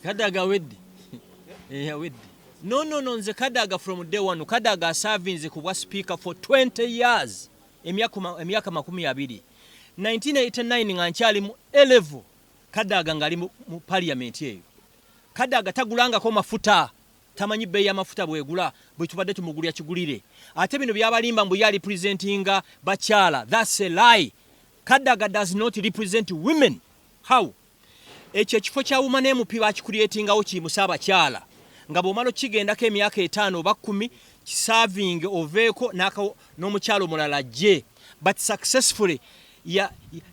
kadaga awedde eh, awedde no no no nze kadaga from day one kadaga asavinze ku bwa speaker for 20 years emyaka makumi abiri 1989 nga nkyali mu elevo kadaga ngali mu parliament eyo kadaga tagulangako mafuta tamanyi bbeeyi y'amafuta bwegula bwe tubadde tumugulya kigulire ate bino byabalimba mbu yali presentinga bakyala thats a lie kadaga does not represent women how Ekyo ekifo kya wuma n'emupi bakikulyetingawo kiyimuse abakyala nga bw'omala okigendako emyaka etaano oba kkumi kisaavinge oveeko n'omukyala omulala ajje but successfully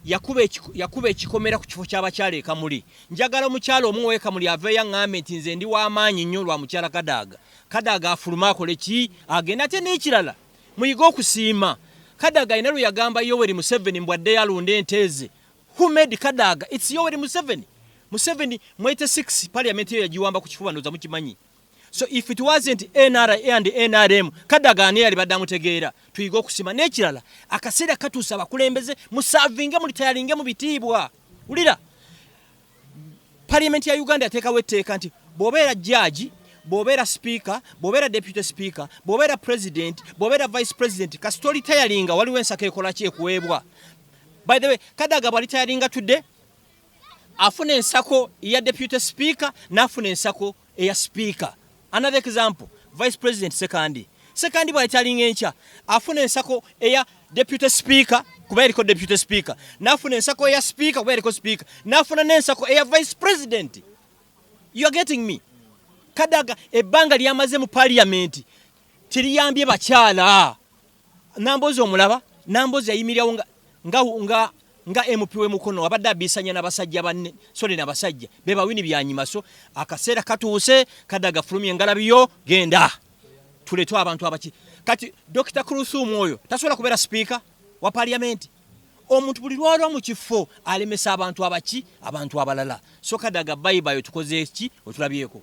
yakuba ekikomera ku kifo ky'abakyala ekamuli njagala omukyala omu wekamuli aveeyo aŋŋambe nti nze ndi w'amaanyi nnyo lwa mukyala kadaaga kadaaga afulume akole ki agenda ate n'ekirala muyige okusiima kadaaga alina lwe yagamba yoweri museveni mbwaddeyo alunde enteeze Who made Kadaga? It's Yoweri Museveni. Museveni mu 86 parliament yo yagiwamba ku kifuba ndoza mukimanyi. So if it wasn't NRA and NRM, Kadaga ani yali badamu tegeera. Tuyiga okusima n'ekirala. Akaseera katuusa abakulembeze musavinge mu litayalinge mu bitiibwa. Ulira. Parliament ya Uganda yateekawo etteeka nti bw'obeera jjaaji bw'obeera sipiika bw'obeera deputy sipiika bw'obeera president bw'obeera vice president kasita olitayalinga waliwo ensako ekolaki ekuweebwa By the way, Kadaga bwali tayalinga today afuna ensako ya deputy speaker nafuna ensako eya speaker. Another example, Vice President Sekandi. Sekandi bwali tayalinga encha afuna ensako eya deputy speaker kuba yaliko deputy speaker nafuna ensako eya speaker kuba yaliko speaker nafuna n'ensako eya vice president. You are getting me? Kadaga ebbanga lyamaze mu parliament teriyambye bakyala. Nambozi omulaba Nambozi yayimirirawo nga nga nga nga MP we Mukono abadde abisanya na basajja banne sole na basajja be bawini byanyima so akaseera katuuse kadaga fulumye ngalabiyo genda tuletu abantu abaki kati Dr. Kuluthum oyo tasobola kubeera sipiika wa parliament omuntu buli lwalwa mu kifo alemesa abantu abaki abantu abalala so kadaga bayibayo tukoze ki otulabyeko